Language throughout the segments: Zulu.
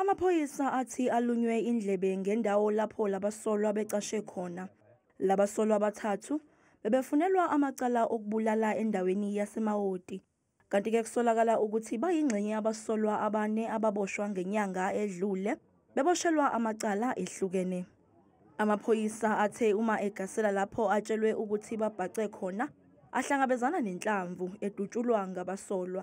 Amaphoyisa athi alunywe indlebe ngendawo lapho labasolwa becashe khona. Labasolwa abathathu bebefunelwa amacala okubulala endaweni yaseMawoti. Kanti ke kusolakala ukuthi bayingxenye yabasolwa abane ababoshwa ngenyanga edlule beboshelwa amacala ehlukene. Amaphoyisa athe uma egasela lapho atshelwe ukuthi babhace khona ahlangabezana nenhlamvu edutshulwa ngabasolwa.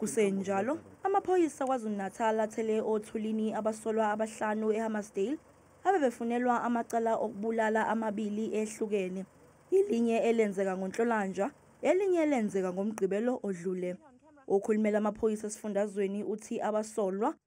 Kusenjalo, amaphoyisa KwaZulu-Natal athele othulini abasolwa abahlanu eHammarsdale abebefunelwa amacala okubulala amabili ehlukene, ilinye elenzeka ngoNhlolanja, elinye elenzeka ngoMgqibelo odlule. Okhulumela amaphoyisa esifundazweni uthi abasolwa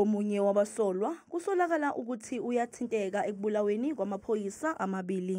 Omunye wabasolwa kusolakala ukuthi uyathinteka ekubulaweni kwamaphoyisa amabili.